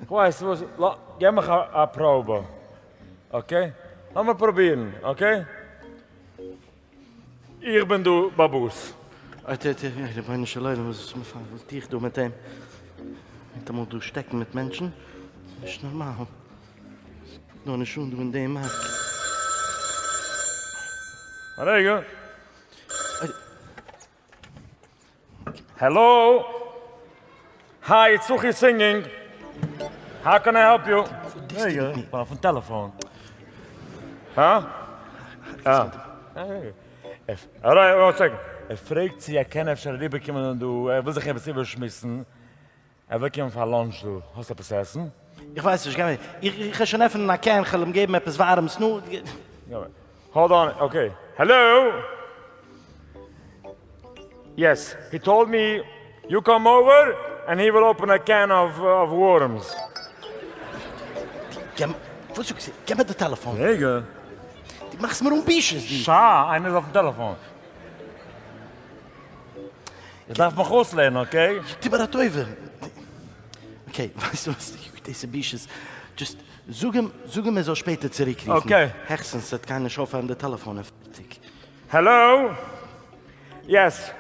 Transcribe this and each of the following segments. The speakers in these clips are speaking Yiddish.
ווייסט וואס, געב מיך א פראבע, אקעי? לאמיר פרובירן, אקעי? איך בין דא באבוס. אוי טו טו, אוי רבונו של עולם, וואס טו איך דא מיט אים? ניטאמאל דא שטעקן מיט מענטשן? ס'איז נישט נארמאל. ס'קומט נאר נישט אן דא אין די מארק. א רגע. העלא! היי, סוחי סינגינג! האו קען איי העלפ יו? רגע, איך בין אויפן טעלעפאון. הא? אה. ער פרעגט צו ער קען אפשר אריבערקומען דא, ער וויל זיך עפעס איבערשמועסן. ער וועט קומען פאר לאנטש דא, האסט עפעס צו עסן? איך ווייס נישט, גיי איך גיי שוין עפענען א קען כ'על אים געבן עפעס ווארעמס נו. האלד אן אקעי העלא יעס הי טאלד מי יו קאם אווער ענד הי וויל אפען א קען אוו ווארעמס. גיב מיר וואס זאגסטו גיב מיר די טעלעפאן. רגע. די מאכסט מיר אן בושות די. שא איינער איז אויפן טעלעפאן. איך דארף מיך אויסלערנען, אקעי? טו מיר א טובה. אקעי, ווייסט דו וואס? יו, דאס איז בושות. דזשאסט זאג אים, זאג אים ער זאל שפעטער צוריקרופן. אקעי. העכסטנס ס'וועט קיינער נישט אויפהייבן די טעלעפאן און פארטיג. העלאו? יעס.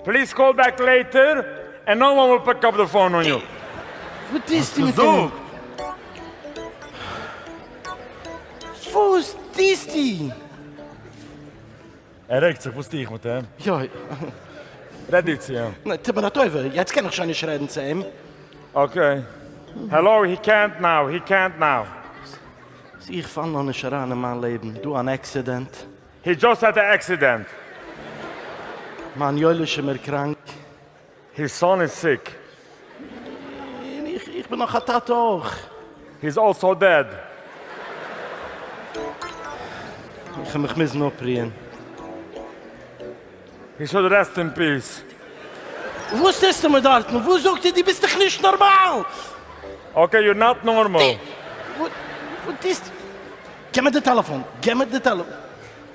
פליז קאל בעק לעיטער ענד נאו וואן וויל פיק אפ די פאון אן יו. וואס טוסטו מיט אים? וואס טוסטו? ער רעגט זיך, וואס טו איך מיט אים? יוי. רעד דו צו אים. נע, טו מיר א טובה, יעצט קען איך שוין נישט רעדן צו אים. אקעי. העלאו, הי קענט נאו, הי קענט נאו. ס, איך פאל נאר נישט אריין אין מיין לעבן, דא אן עקסידענט. הי דזשאסט העד א עקסידענט. מיין יואליש איז מיר קראנק. היז סאן איז סיק. און איך, איך בין נאך א טאטע אויך. היז אלסאו דעד. איך וועל מיך מוזן אפרוען. הי שוד רעסט אין פיס. וואס טוסטו מיר דארטן? וואס זאגט איר? דו ביסט דאך נישט נארמאל! אקעי יור נאט נארמאל. וואס טוסטו? גיב מיר די טעלעפאן! גיב מיר די טעלעפאן!